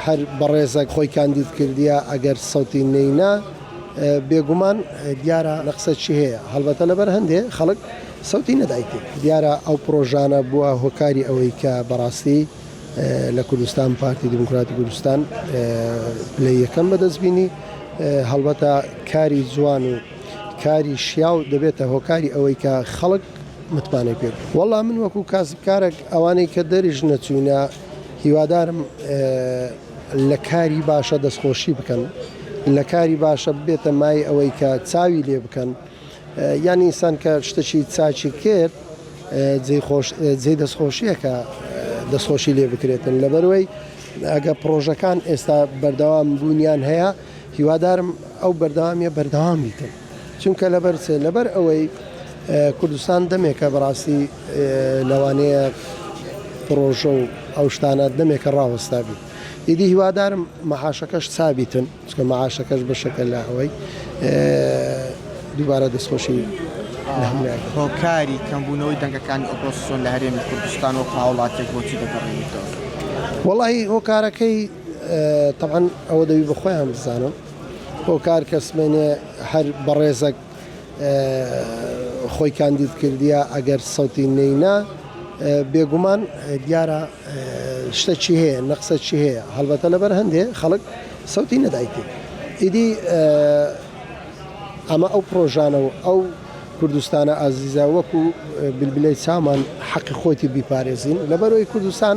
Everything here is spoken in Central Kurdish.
هەر بەڕێزەک خۆی کاندید کردیە ئەگەر سەوتی نەینا بێگومان دیارە نەقسە چی هەیە هەڵبەتە لەبەر هەندێ خەڵک سەوتی نەدایتی دیارە ئەو پرۆژانە بووە هۆکاری ئەوەی کە بەڕاستی لە کوردستان پارتی دیموکراتی کوردستان پلەی یەکەم بەدەست بینی هەڵبەتە کاری جوان و کاری شیاو دەبێتە هۆکاری ئەوەی کە خەڵک متمانەی پێ وەڵام من وەکو کاسبکارێک ئەوانەی کە دەریش نەچوینە هیوادارم لە کاری باشە دەستخۆشی بکەن لە کاری باشە ببێتە مای ئەوەی کە چاوی لێ بکەن یان ئینسان کە شتەکی چاچی کرد جێی خۆش جێ دەستخۆشیەکە دەستخۆشی لێ بکرێتن لەبەروەی ئەگە پرۆژەکان ئێستا بەردەوام بوونیان هەیە هیوادارم ئەو بەردەوامیە بەردەوام بیتن. چونکە لەبەر چ؟ لەبەر ئەوەی کوردستان دەمێکە بەڕاستی لەوانەیە پڕۆژە و ئەو شتانە دەمێکە ڕاوەستا بیت. ئیدی هیوادارم مەعاشەکەش سابیتن، چونکە مەعاشەکەش بەشێکە لە ئەوەی. دووبارە دەستخۆشی لە هەموویان دەکەم. هۆکاری کەمبوونەوەی دەنگەکانی ئۆپۆزسیۆن لە هەرێمی کوردستان وەکو هاوڵاتییەک بۆچی دەگەڕێنیتەوە؟ وەڵاهی هۆکارەکەی تەبعەن ئەوە دەبی بە خۆیان بزانن. هۆکار کەس مەێنێ هەر بەڕێزەک خۆی کاندید کردیە ئەگەر سەوتی نەینا بێگومان دیارە شتە چی هەیە نەقسە چی هەیە هەڵبەتە لەبەر هەندێ خەڵک سەوتی نەدایتی ئیدی ئەمە ئەو پرۆژانە و ئەو کوردستانە ئازیزە وەکو بلبلەی چامان حەقی خۆتی بیپارێزین لەبەرەوەی کوردستان